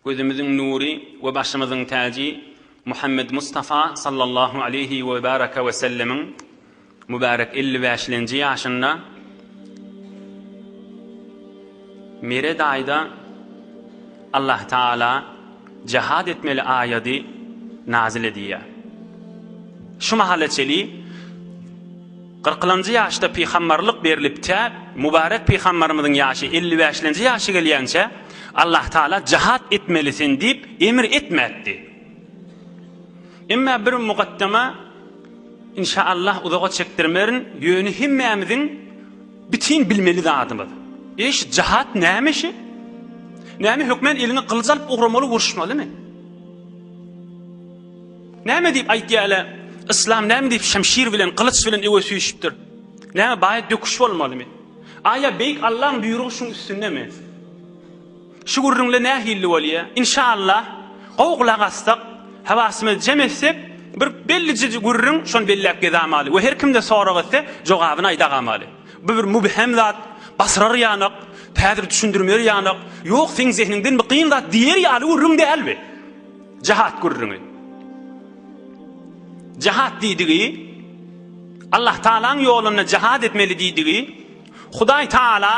Gözümiziň nury we başymyzyň täji Muhammet Mustafa sallallahu aleýhi we baraka we sellemiň mübärek elli bäşlenji ýaşynda Mire daýda Allah Taala jihad etmeli aýady nazil edýär. Şu mahala çeli Kyrklanjy ýaşda pygamberlik berlip tä Mübärek pygamberimiziň ýaşy elli bäşlenji ýaşa gelýänçä Allah Taala jahat etmelisin diýip emir etmäpdi. Emma bir mugaddama inşaallah uzaga çekdirmerin ýöne hemmämiziň bitin bilmeli zadymyz. Eý şu jahat näme şi? Näme hökmän eliňe gylyç alyp ugramaly uruşmalymy? Näme diýip aýtýar ele yslam näme diýip şemşir bilen gylyç bilen öwe süýşüpdir. Näme baýat döküş bolmalymy? Aýa beýik Allaň buýrugy şuň üstündemi? Şu gürrüňle nähilli bolýa? Inşallah gowy gulak assak, hawasymyzy jem etsek bir bellije gürrüň şony belläp gezamaly we her kimde sorag etse jogabyny aýdagamaly. Bu bir mübhem zat, basyrar ýanak, täzir düşündirmer ýanak, ýok seň zehniňdenmi kyn zat diýer ýaly gürrüň däl bi. Jahat gürrüňi. Jahat diýdigi Allah Taala'nyň ýolunda jahat etmeli diýdigi Hudaý Taala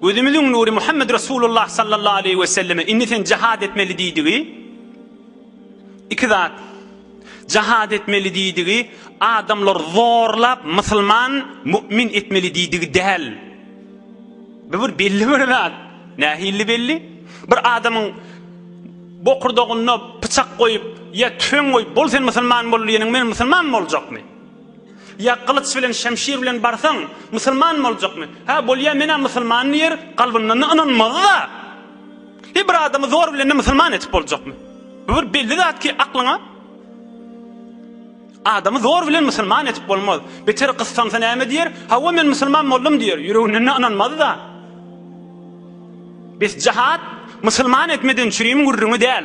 gözümiziň nury Muhammed Resulullah sallallahu aleyhi ve selleme indi sen jahat etmeli diýdigi iki zat jahat etmeli diýdigi adamlar zorlap musulman mümin etmeli diýdigi däl bu bir belli bir zat nähilli belli bir adamyň Bokurdagynda pyçak goýup, ýa tüfeň goýup, bol sen musulman bol diýeniň bilen musulman boljakmy? Ýa gylyç bilen, şemşir bilen barsaň, musulman boljakmy? Hä, bolýa men-ä musulman diýer, kalbyndan-da ynanmaz-a. He, bir adamy zor bilen-de musulman edip boljakmy? Bu bir belli zat ki, aklyňa. Adamy zor bilen musulman etip bolmaz. Beter gyssansa näme diýer? Hawa men musulman boldum diýer. Ýüreginde ynanmazda. Biz jahat musulman etmeden çürim gürrüňi däl.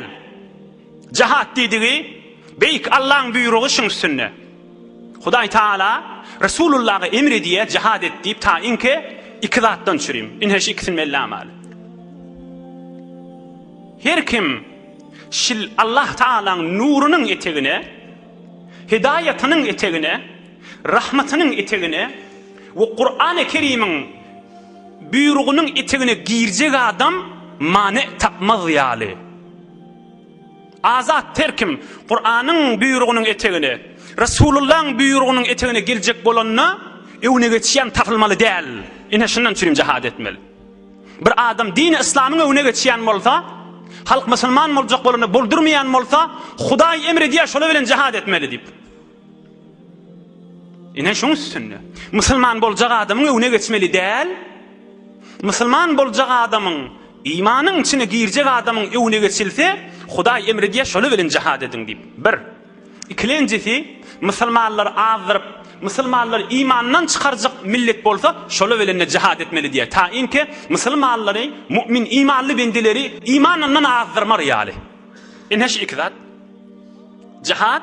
Jahat diýdigi beýik Allaň buýrugy şuň üstünde. Hudaý Taala Resulullaha emr edýär jahat et diýip ta inke iki zatdan çürim. Inhe şu ikisini bellamaly. Her kim Şil Allah Tagalaň nurunyň etegine, hidaýatynyň etegine, rahmatynyň etegine we Kurany Kerimiň buýrugynyň etegine girjek adam many tapmaz ýaly. Azat her kim Kuranyň buýrugynyň etegine, Resulullaň buýrugynyň etegine girjek bolanda öňüne geçýän tapylmaly däl. Ine şundan çürim jahat etmeli. Bir adam dini yslamyň öňüne geçýän bolsa, halk musulman boljak bolanda boldurmaýan bolsa, Hudaý emr edýär şolar bilen jihad etmeli diýip. Ine şuň üstünde. Musulman boljak adamyň öňüne geçmeli däl. Musulman boljak adamyň imanyň içine girjek adamyň öňüne geçilse, Hudaý emr edýär şolar bilen jihad ediň diýip. 1. Ikilenjisi, musulmanlary azdyryp, musulmanlary imandan çykarjak millet bolsa, şolar bilen-de jihad etmeli diýýär. Taýynki, musulmanlary, mu'min, imanly bendeleri imanyndan azdyrmar ýaly. Ine şu iki zat. Jihad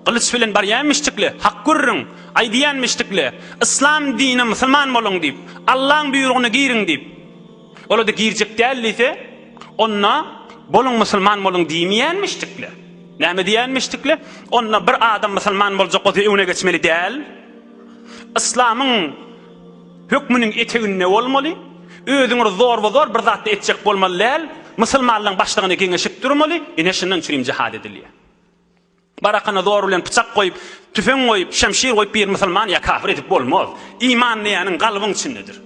gylyç bilen barýanmyşdykly, hak gürrüň aýdýanmyşdykly, yslam dinine musulman boluň diýip, Allaň buýrugyna giriň diýip, Ola-da girjek däl diýse, onda Boluň musulman boluň diýmeýänmişdikler. Näme diýýänmişdikler? Onda bir adam musulman boljak bolsa öňüne geçmeli däl. Yslamyň hökmüniň eteginde bolmaly. Özüňi zorba-zor bir zatda etjek bolmaly däl. Musulmanlaryň başlygyna geňeşip durmaly. Ine şundan üçin hem jihad edilýär. Barakana zor bilen pyçak goýup, tüfeň goýup, şemşir goýup bir musulman ýa kafir edip bolmaz. Iman diýäniň galbyň içindedir.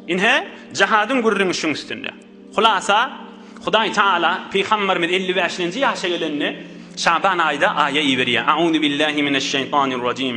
Ine, jahadyň gürrüňi şuň üstünde. Hulasa, Hudaý Taala pygamberimiz elli bäşinji ýaşa gelende Şaban aýda aýa iberýär. Auzubillahi mineşşeýtanirrajim.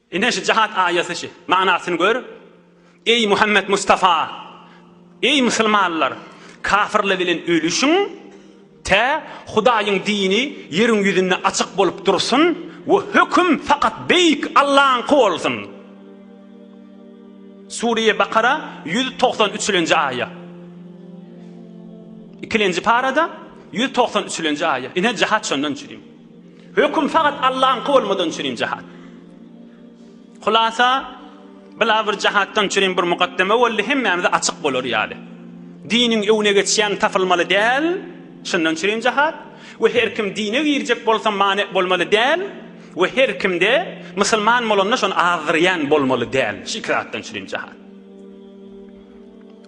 Ine şu jihad aýaty şu. Manasyny gör. Eý Muhammet Mustafa! Eý musulmanlar! Kafirler bilen ölüşiň, tä Hudaýyň dini ýeriň ýüzünde açyk bolup dursun we höküm fakat Beýik Allaňky bolsun! Sure-i Bakara ýüz togsan üçlenji aýa. Ikilenji parada ýüz togsan üçlenji aýa. Ine jihad şondan çürim. Höküm fakat Allahyňky bolmadygy üçin hem jahat. Hulasa, bila bir jahatdan üçin hem bir mukaddeme boldy, hemmämize açyk bolar ýaly. Diniň öwne geçýän tapylmaly däl, şundan üçin hem jahat we her kim dine girjek bolsa mane bolmaly däl we her kimde musulman bolanda şony azdyrýan bolmaly däl, şu iki zatdan üçin hem jahat.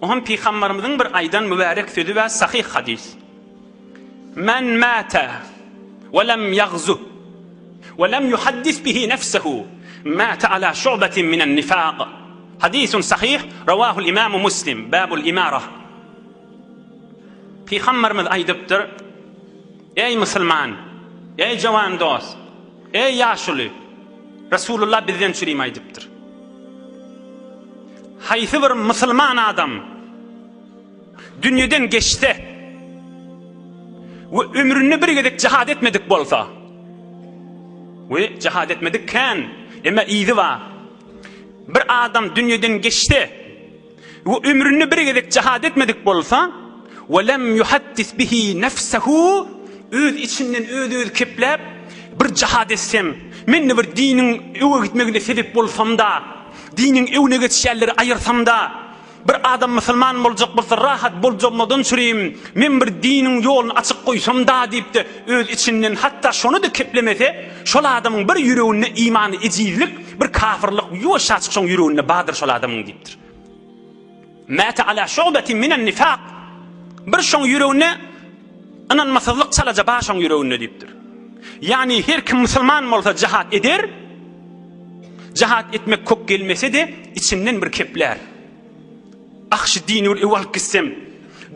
O hem pygambarymyzyň bir aýdan mübärek sözi bar, sahyh hadys. Men mata we lem yagzu we lem yuhaddis bihi nefsehu mata ala şu'betin minen nifaq. Hadisun sahih, rawahul imamu muslim, babul imara. Pygamberimiz aýdypdyr, Eý musulman, eý jawan dos, eý ýaşuly, Resulullah bizden çürim aýdypdyr. Haýsy bir musulman adam dünýeden geçse we ömründe bir gezek jihad etmedik bolsa we jihad etmedik kän emma izi bar bir adam dünýeden geçse we ömründe bir gezek jihad etmedik bolsa we lem yuhaddis bihi nefsehu öz içinden öz öz kepläp bir jihad etsem men bir diniň öwe gitmegine sebep bolsam da diniň öwne geçýänleri aýyrsam da Bir adam musulman boljak bolsa rahat boljagmadan sürüýim, men bir diniň ýoluny açyk goýsam-da diýip-de öz içinden hatda şony-da keplemese, şol adamyň bir ýüreginde imany ejizlik, bir kafyrlyk ýuwaşjaçyk şoň ýüreginde bardyr şol adamyň diýipdir. Mäte ala şu'betin minen nifak. Bir şoň ýüreginde Ynanmasyzlyk çalaja başyň ýüreginde diýipdir. Ýagny her kim musulman bolsa jahat eder, jahat etmek kök gelmese-de içinden bir keplär. Ah şu dini bir öw alyp gitsem,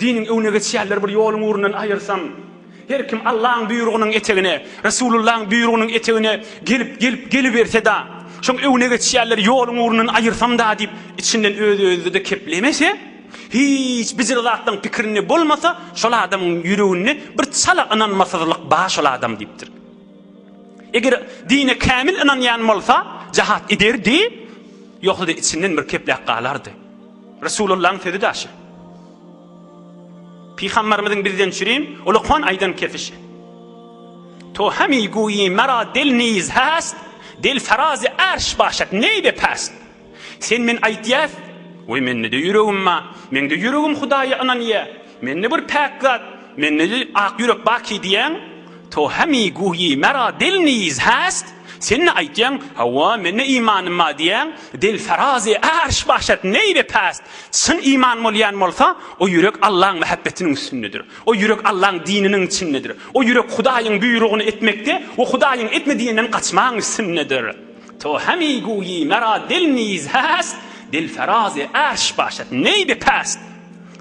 diniň öwüne geçýänleri bir ýoluň ugrundan aýyrsam, her kim Allaň buýrugynyň etegine, Resulullaň buýrugynyň etegine gelip, gelip, geliberse-de, şoň öwüne geçýänleri ýoluň ugrundan aýyrsam-da diýip içinden öz-özüde keplemese, Hiç bijir zatlaň pikirinde bolmasa, şol adamyň ýüreginde bir çala ynanmasyzlyk bar şol adam diýipdir. Eger dine kämil ynanýan bolsa, jahat ederdi, ýogsa-da içinden bir kepläp galardy. Resulullahyň sözi daşy. Pygamberimiziň bizden çürin ulukman aýdan kepişi. To hemi guýi mera del niz hast, del ferazi arş başat neybe past. Sen men aýtýas, we mende-de ýüregim bar, meňde ýüregim Hudaýa ynanýar, mende bir päk zat, mende-de ak ýürek barky diýýäň, to hami guhi mera dil niz hast, sen-de aýtýaň, hawa, mende imanym bar diýýäň, dil ferazy arş başat neý we past, çyn iman bolýan bolsa, o ýürek Allaň mähebbetiniň üstündedir, o ýürek Allaň dininiň içindedir, o ýürek Hudaýyň buýrugyny etmekde we Hudaýyň etme diýenden gaçmagyň üstündedir. To hami guyi mera dil niz hest, dil ferazi arş başet ney be pest.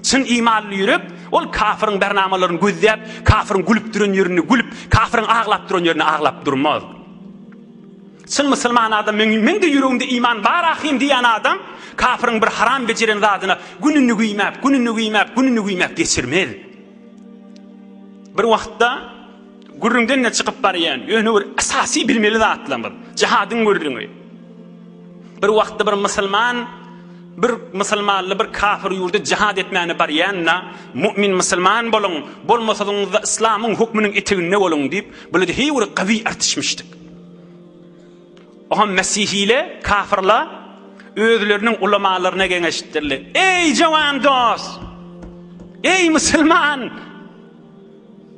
Çyn imanly ýürek ol kafyryň bernamalaryny gözläp, kafyryň gülüp duran ýerinde gülüp, kafyryň aglap duran ýerinde aglap durmaz. Çyn musulman adam meň-de ýüregimde iman bar ahyryn diýýän adam kafyryň bir haram bejeren zadyna gününi güýmäp, gününi güýmäp, gününi güýmäp geçirmez. Bir wagtda Gürrüňden-de çykyp barýan ýöne bir esasy bilmeli zatlarymyz, jihadyň gürrüňi. Bir wagtda bir musulman bir musulmanly bir kafir ýurda jihad etmäne barýanda, mümin musulman boluň, bolmasaňyzda islamyň hökmüniň eteginde boluň diýip, böyle heý bir gawy artişmişdik. Oha mesihile, kafirla özleriniň ulamalaryna geňeşdirler. Eý jawan dost! Eý musulman!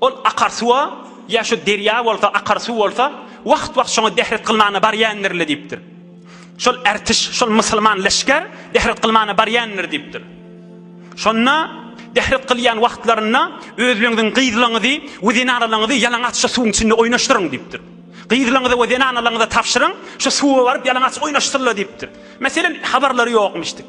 Ol akar suwa, ýa şu derýa bolsa, akar suw bolsa, wagt-wagt şoňa dehret kylmana barýandyr-le diýipdir. Şol ertiş, şol musulman leşger dehret kylmana barýandyr diýipdir. Şonda dehret kylýan wagtlarynda özleňiziň gyzlaňyzy we zenanalaňyzy ýalaňaç şu suwuň içinde oýnaşdyryň diýipdir. Gyzlaňyza we zenanalaňyza tabşyryň, şu suwa baryp ýalaňaç oýnaşsynla diýipdir. Meselen, habarlary ýokmyş diýip.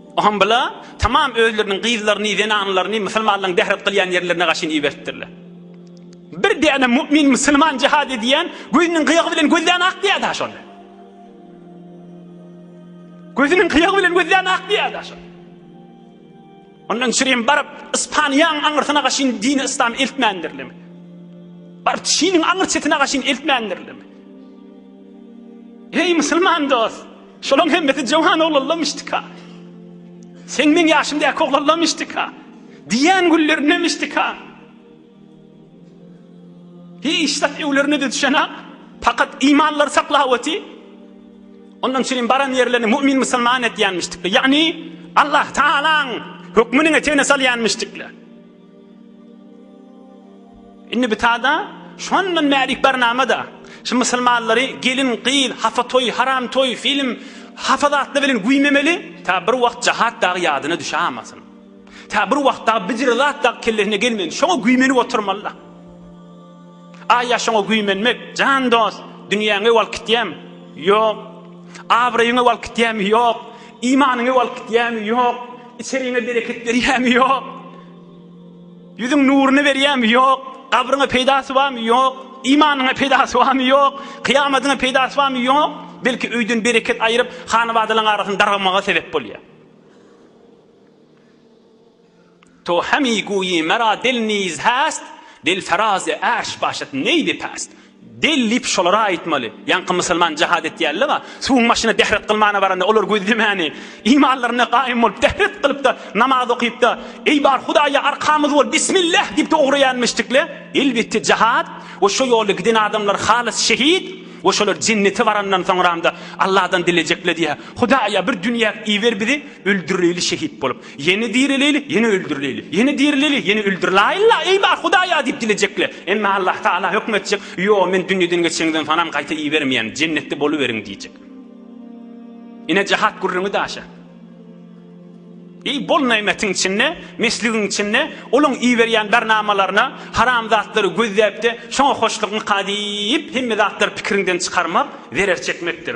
Aham bula tamam özleriniň gyzlaryny, zenanlaryny musulmanlaryň bährat gylýan ýerlerine gaşyn iberipdirler. Bir däne mu'min musulman jihad edýän gözüniň gyýagy bilen gözlerini akdýar-da şonda. Gözüniň gyýagy bilen gözlerini akdýar-da şonda. Ondan çyryň baryp Ispaniýaň aňyrsyna gaşyn dini islam eltmändirler. Baryp Çiniň aňyr çetine gaşyn eltmändirler. Heý, musulman dost! Şolaň hemmesi jöwan oglanlammyşdyka? Seň meň ýaşymdaky oglanlammyşdyka? Diýýän günlerindemişdika? Hiç zat öwlerine-de düşenok, pakat imanlary saklap oty. Ondan üçin hem baran ýerlerini mu'min musulman edýänmişdikler. Ýagny, Allah Tagalaň hökmüniň etegine salýanmyşdikler. Indi bitada şondan bärik barnama-da. Şu musulmanlary gelin, gyz, hapa toý, haram toý, film, hapa zatlar bilen güýmemeli, tä bir wagt jahat dagy ýadyna düşämasyn. Tä bir wagt dagy bijir zat dagy kellesine gelmesin, şoňa güýmenip oturmaly-da. A ýaşyňa güýmenmek, jan dost, dünýäňi alyp gitýämi? Ýok. Abraýyňy alyp gitýämi? Ýok. Imanyňy alyp gitýämi? Ýok. Içeriňe bereket berýämi? Ýok. Ýüzüň nuruny berýämi? Ýok. Gabryňa peýdasy barmy? Ýok. Imanyňa peýdasy barmy? Ýok. Kyýamadyňa peýdasy barmy? Ýok. Belki öýden bereket aýryp, hanabadalaryň arasyny dargamaga sebäp bolýar. To hemi guýi mera del niz häst, del feraze ärş başat neýbi päst. Del diýip şolara aýtmaly. Ýaňky musulman jihad etýärle-wa, suwuň başyna dehret kylmana baranda olar gözlemäni, imanlaryna gaýym bolup dehret kylyp-da, namaz okyp-da, Eý bar Hudaýa arkamyz bol, bismillah diýip-de ugraýanmyşdykle. Elbetde jihad we şo ýolda giden adamlar halys şehit we şolar jennete barandan soňramda Alladan dilejekle diýýär, Hudaýa bir dünýäk iber bizi öldüreli şehit bolup. Ýene direleli, ýene öldürileli. Ýene direleli, ýene öldür. La illa eý bar Hudaý-a diýip dilejekler. Emma Allah Tagala höküm etjek, Ýo, men dünýeden geçeniňden soňam gaýta ibermeýän, jennetde boluberiň diýjek. Ine jahat gürrüňi daşa. Eý bol nämetiň içinde, mesligiň içinde, olaň iberýän bernamalaryna, haram zatlary gözläp-de, şoňa hoşlukmyka diýip, hemme zatlary pikiriňden çykarmak, zerer çekmekdir.